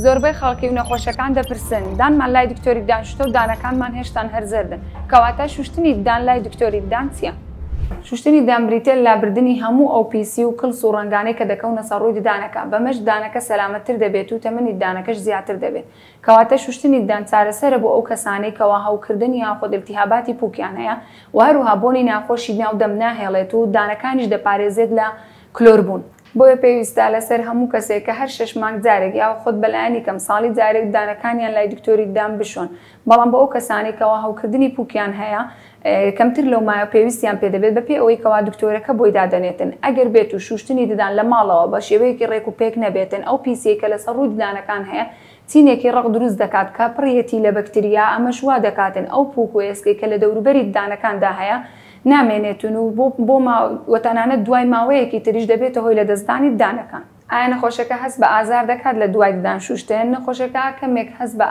زۆربەی خەڵکی و نەخۆشەکان دەپرسن دانمان لای دکتۆری ددان شتە و دانەکانمان هێشتان هەر زەردن کەواتە شوشتنی ددان لای دکتۆری ددان چییە؟ شوشتنی ددان بریتییە لە لابردنی هەموو ئەو پیسی و کڵس و ڕەنگانەی کە دەکەونە سەر ڕووی ددانەکە، بەمەش ددانەکە سەلامەتتر دەبێت و تەمەنی ددانەکەش زیاتر دەبێت. کەواتە شوشتنی ددان چارەسەرە بۆ ئەو کەسانەی کەوا هەوکردن یاخود التهاباتی پووکیان هەیە و هەروەها بۆنی ناخۆشی ناو دەم ناهێڵێت و ددانەکانیش دەپارێزێت لە کلۆربوون. بۆیە پێویستە لەسەر هەموو کەسێک کە هەر شەش مانگ جارێک یاوە خود بە لایەنی کەم ساڵی جارێک ددانەکانیان لای دکتۆری ددان بشۆن بەڵام بۆ ئەو کەسانەی کەوا هەوکردنی پوکیان هەیە کەمتر لەو مایە پێویستیان پێ دەبێت بەپێی ئەوەی کەوا دکتۆرەکە بۆی دادەنێتن ئەگەر بێت و شوشتنی ددان لە ماڵەوە بە شێوەیەکی ڕێک و پێک نەبێتن ئەو پیسیەی کە لەسەر ڕووی ددانەکان هەیە تینێکی ڕەق دروست دەکات کە پڕیەتی لە بەکتریا، ئەمەش وا دەکاتن ئەو پووک و ئێسکەی کە لە دەوروبەری ددانەکاندا هەیە نامێنێتن و بۆ بۆ ما و تەنانەت دوای ماوەیەکی تریش دەبێتە هۆی لەدەستدانی ددانەکان. ئایا نەخۆشەکە هەست بە ئازار دەکات لە دوای ددان شووشتن؟ نەخۆشەکە کەمێک هەست بە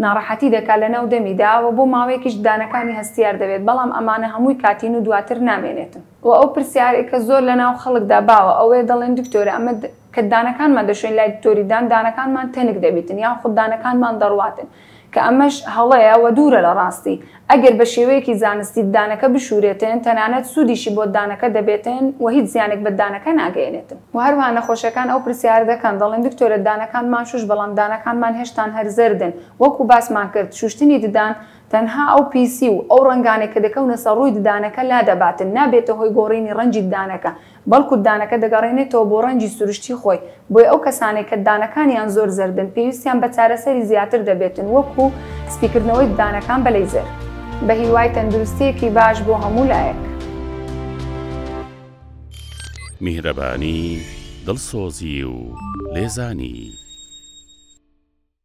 ناڕەحەتی دەکات لە ناو دەمیدا و بۆ ماوەیەکیش ددانەکانی هەستیار دەبێت، بەڵام ئەمانە هەمووی کاتین و دواتر نامێنێتن. وە ئەو پرسیارەی کە زۆر لە ناو خەڵکدا باوە ئەوەیە دەڵێن دکتۆرە ئەمە کە دانەکانمان دەشۆین لای دکتۆری دان دانەکانمان تەنک دەبیتن یان خود دانەکانمان دەڕواتن کە ئەمەش هەڵەیە وە دوورە لە ڕاستی ئەگەر بە شێوەیەکی زانستی دانەکە بشورێتن تەنانەت سودیشی بۆ دانەکە دەبێتن وە هیچ زیانێک بە دانەکە ناگەیەنێتن. وە هەروەها نەخۆشەکان ئەو پرسیارە دەکەن دەڵێن دکتۆرە دانەکانمان شوش بەڵام دانەکانمان هێشتان هەر زەردن وەکو باسمان کرد شوشتنی ددان تەنها ئەو پیسی و ئەو ڕەنگانەی کە دەکەونە سەر ڕووی ددانەکە لادەباتن، نابێتە هۆی گۆڕینی ڕەنگی ددانەکە، بەڵکو ددانەکە دەگەڕێنێتەوە بۆ ڕەنگی سروشتی خۆی، بۆیە ئەو کەسانەی کە ددانەکانیان زۆر زەردن پێویستیان بە چارەسەری زیاتر دەبێتن وەکو سپیکردنەوەی ددانەکان بە لەیزەر. بە هیوای تەندروستییەکی باش بۆ هەموو لایەک. میهرەبانی، دڵسۆزی و لێزانی.